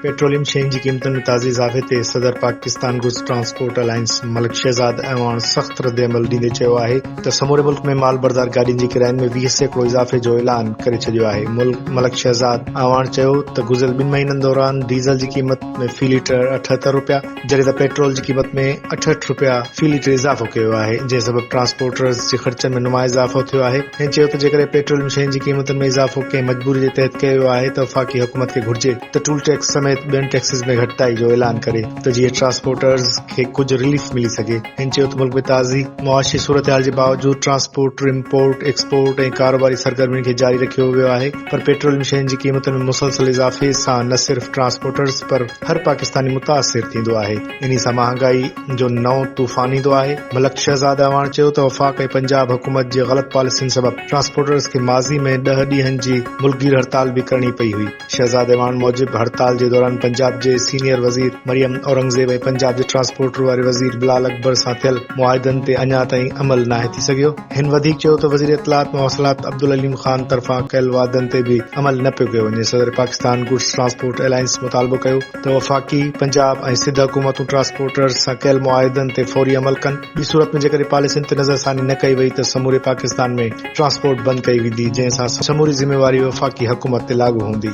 Petroleum شين جي قيمتن ۾ تازي اضافي تي صدر Pakistan goods transport alliance Malik Shahzad Awan سخت ردعمل ڏيندي چيو آهي ته سموري ملڪ ۾ مال بردار گاڏين جي ڪراين ۾ ويهه سيڪڙو اضافي جو اعلان ڪري ڇڏيو آهي ملڪ شهزاد اعواڻ چيو ته گذريل ٻن مهينن دوران ڊيزل جي قيمت ۾ في ليٽر اٺهتر رپيا جڏهن ته پيٽرول جي قيمت ۾ اٺهٺ رپيا في ليٽر اضافو ڪيو ويو آهي، جنهن سبب ٽرانسپورٽرز جي خرچن ۾ نمايان اضافو ٿيو آهي. هن چيو ته جيڪڏهن پيٽروليم شين جي قيمتن ۾ اضافو ڪنهن مجبوري جي تحت ڪيو ويو آهي ته وفاقي حڪومت کي گهرجي ته ٽول ٽيڪس سميت ٻين ٽيڪسز ۾ گهٽتائي جو اعلان ڪري ته جيئن ٽرانسپورٽرز کي ڪجهه رليف ملي سگهي. هن چيو ته ملڪ ۾ تازي معاشي صورتحال جي باوجود ٽرانسپورٽر امپورٽ، ايڪسپورٽ ۽ ڪاروباري سرگرمين کي جاري رکيو ويو آهي پر پيٽروليم شين جي قيمتن ۾ مسلسل اضافي سان نه صرف ٽرانسپورٽرز پر هر پاڪستاني متاثر ٿيندو آهي، انهي سان مهانگائي جو نئون طوفان ايندو آهي، ملڪ شهزاد اعواڻ چيو ته وفاق ۽ پنجاب حڪومت جي غلط پاليسين سبب ٽرانسپورٽرز کي ماضي ۾ ڏهه ڏينهن جي ملڪ گير هڙتال به ڪرڻي پئي هئي، شهزاد اعواڻ موجب هڙتال جي دوران پنجاب جي سينيئر وزير مريم اورنگزيب ۽ پنجاب جي ٽرانسپورٽر واري وزير بلال اڪبر سان ٿيل معاهدن تي اڃا تائين عمل ناهي ٿي سگهيو. هن وڌيڪ چيو ته وزير اطلاعات مواصلات عبدالعليم خان طرفان ڪيل وعدن تي به عمل نه پيو ڪيو وڃي، صدر پاڪستان گڊس ٽرانسپورٽ الائنس مطالبو ڪيو ته وفاقي، پنجاب ۽ سڌ حڪومتون ٽرانسپورٽرز سان ڪيل معاهدن تي فوري عمل ڪن، ٻي صورت ۾ جيڪڏهن پاليسين تي نظرثاني نه ڪئي وئي ته سموري پاڪستان ۾ ٽرانسپورٽ بند ڪئي ويندي، جنهن سان سموري ذميواري وفاقي حڪومت تي لاڳو هوندي.